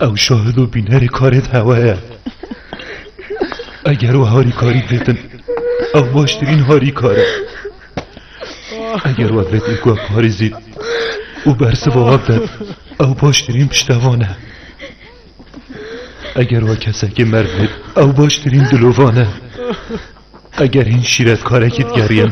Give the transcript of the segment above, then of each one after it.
Ew şahid û bînerê karê di hewa ye. Eger we harîkarî didin, ew baştirîn harîkar e. Eger we vê dîku we parêzî û bersiva we bidin, ew baştirîn piştevan e. Eger we kesekê merv bid, ew baştirîn dilovan e. Eger hîn şîretkarekî digeriyin,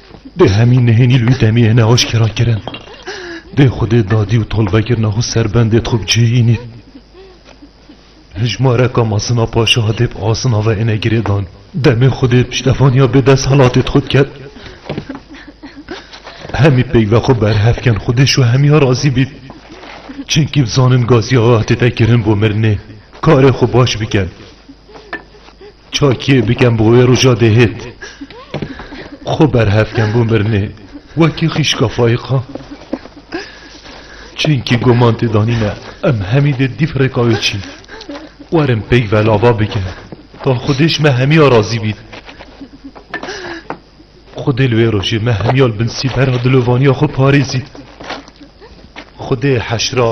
Dê hemî nihênî li wî demê ye ne aşkera kirin. Dê xwedê dadî û tolvekirina xwe serbendê xwe bi cihê yîn ît. Hijmareka Masina Paşa hatê bi asina ve êne girêdan. Demê xwedê piştevaniya bê dest helatê xwe diket. Hemî peyva xwe berhev kin xwedê ji we hemiya razî bît. Çinkî bizanin Gazî Axa hatê vekirin bo mirinê. Karê xwe baş bikin. Çakiyê bikem bo wê roja dêhêt. Xwe berhev kem bo mirinê wekî xîşka fayiqan. Çinkî guman tê danîne em hemî dê dîf rêka wê çîn. Werin pêk ve lava bike ta xwedêş me hemiya razî bîn. Xwedê li wê rojê me hemiya li bin sîbera dilovaniya xwe parêzîn. Xwedê heşra.